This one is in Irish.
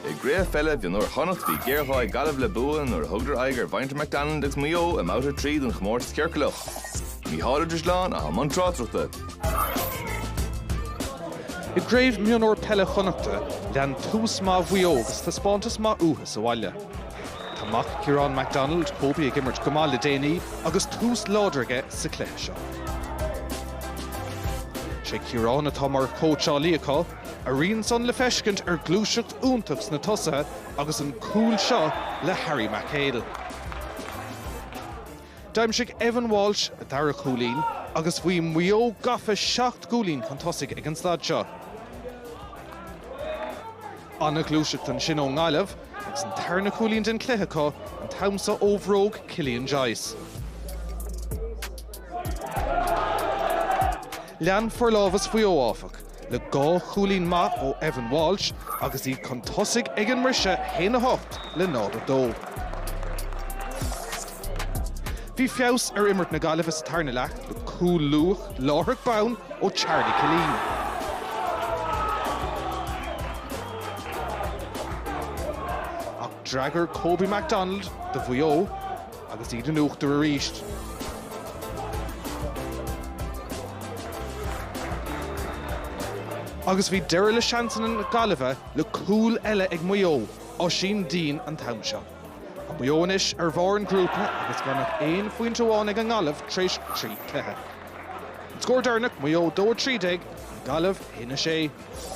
I gCraobh Peile Mhionúir Chonnacht bhí géarghá ag Gaillimh le bua nuair a thugdar aghaidh ar mhuintir McDonald agus Maigh Eo i mbabhta a trí den chomórtas ciorcalach. Mícheál de Siún i mbun tráchtaireachta. I gcraobh mhionúir peile Chonnacht lean tús maith Mhaigh Eo agus taispeántas maith uathu sa bhaile. Tá mac Ciarán McDonald, Kobe, ag imirt go maith le déanaí agus tús láidir aige sa cluiche seo. Is é Ciarán atá mar chóitseálaí acu. A rian san le feiscint ar ghluaiseacht iontach sna tosaithe agus an cúl seo le Harry McHale. D'aimsigh Evan Walsh a dara cúilín agus bhí Maigh Eo gafa seacht gcúilín chun tosaigh ag an staid seo. An-ghluaiseacht ansin ón nGaillimh. Agus an tarna cúilín den chluiche acu an t-am seo ó bhróg Cillian Joyce. Lean forlámhas Mhaigh Eo, áfach, le dhá chúilín maith ó Evan Walsh agus iad chun tosaigh ag an mbriseadh, 1 8 le 0 2. Bhí feabhas ar imirt na Gaillimhe sa tarna leath le cúl luath, láithreach bonn ó Charlie Killeen. Ach d'fhreagair Kobe McDonald do Mhaigh Eo agus iad in uachtar arís. Agus bhí deireadh le seansanna na Gaillimhe le cúl eile ag Maigh Eo, Oisín Deane an t-am seo. Maigh Eo anois ar bharr an ghrúpa agus gan ach aon phointe amháin ag an nGaillimh tar éis trí chluiche. An scór deireanach, Maigh Eo 2, 13, an Ghaillimh 1, 6.